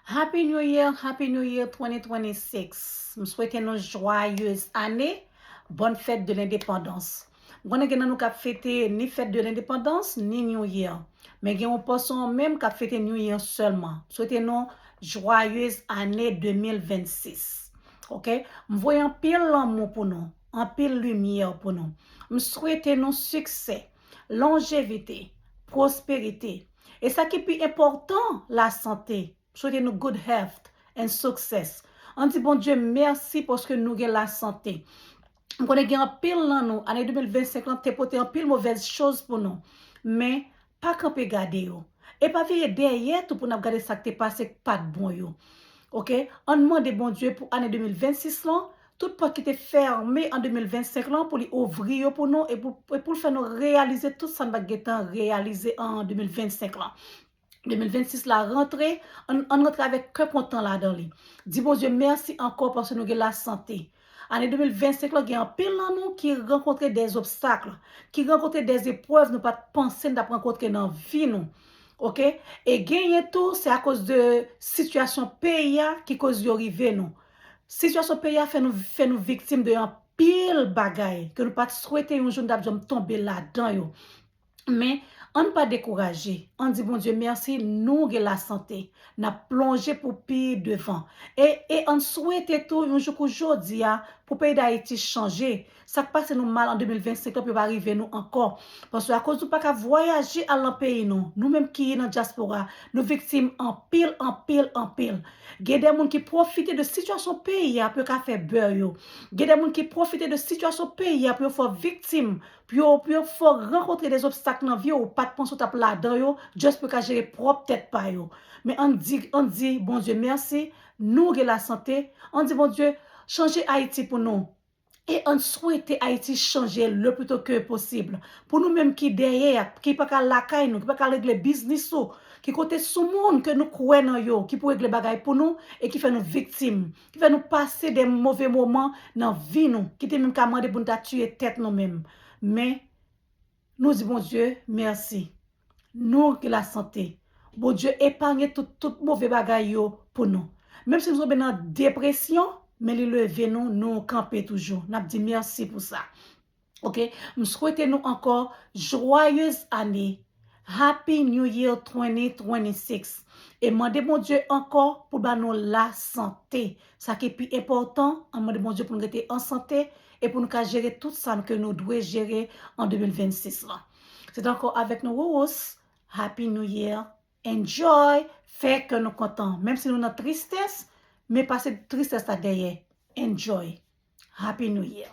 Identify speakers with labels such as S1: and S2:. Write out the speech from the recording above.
S1: Happy new year happy new year 2026 m swete nou jwayez ane bonne fête de l'independance m konnen gen nan nou kap fete ni fête de l'independance ni new year men gen yon pòson an menm kap fete new year sèlman m swete nou jwayez ane 2026 ok m voye anpil lanmou pou nou anpil limyè pou nou m swete nou siksè lonjevite pwosperite E sa ki pi enpòtan la sante. M swete nou good health and success. An di Bondye mèsi paske nou gen la sante. M konnen gen anpil nan nou ane 2025 lan te pote anpil movèz choz pou nou. Men, pa kanpe gade yo. E pa vire dèyè tou pou n ap gade sa k te pase k pat bon yo. Ok, an n mande Bondye pou ane 2026 lan Tout pòt ki te fèmen an 2025 lan pou li ouvri yo pou nou e pou l fè nou reyalize tout sa n pa t gen tan reyalize an 2025 lan. 2026 la rantre, ann rantre avèk kè kontan ladan li. Di Bondye mèsi ankò paske nou gen lasante. Ane 2025 lan gen anpil nan nou ki rankontre dè zobstakl, ki rankontre dè zeprèv nou pa t panse n t ap rankontre nan vi nou. Ok, e genyen tou se akoz de sitiyasyon peyi a ki koz yo rive nou. Sitiyasyon peyi a fè nou fè nou viktim de anpil bagay ke nou pat swete yon jou nou tap janm tonbe ladan yo. Men, ann pa dekouraje, ann di Bondye mèsi nou gen lasante, nap plonje pou pi devan. E e ann swete tou yon jou kou jodi a pou peyi Dayiti chanje, Sak pase nou mal an 2025 lan pou yo pa rive nou ankò. Paske akoz nou paka vwayaje al nan peyi nou, nou menm ki nan dyaspora, nou viktim anpil, anpil, anpil. Gen de moun ki pwofite de sitiyasyon peyi a pou yo ka fè bè yo. Gen de moun ki pwofite de sitiyasyon peyi a pou yo fè viktim, pou yo, pou yo fè w rankontre de zobstak nan vi w ou pat panse w tap ladan yo, just pou yo ka jere pwòp tèt pa yo. Men ann di, ann di Bondye mèsi, nou gen lasante, ann di Bondye chanje Ayiti pou nou. E ann swete Ayiti chanje le plus tôt que possible. Pou nou menm ki dèyè, ki pa ka al lakay nou, ki pa ka al regle biznis ou, ki konte sou moun ke nou kwè nan yo, ki pou regle bagay pou nou e ki fè nou viktim, ki fè nou pase de move moman nan vi nou, ki te menm ka mande pou nou ta tiye tèt nou menm. Men. Nou di Bondye mèsi. Nou gen lasante. Bondye epanye tout tout move bagay yo pou nou. Menm si nou tonbe nan depresyon, men li leve nou, nou kanpe toujou. N ap di mèsi pou sa. Ok, m swete nou ankò jwayez ane. Happy New Year 2026. E mande Bondye ankò pou l ba nou lasante. Sa ki pi enpòtan, an mande Bondye pou n rete an sante e pou n ka jere tout sa n ke nou dwe jere an 2026 lan. Se te ankò avèk nou Rurus, Happy New Year, Enjoy, fè kè nou kontan, menm si nou nan tristès, men pase tristès la dèyè, Enjoy, Happy New Year.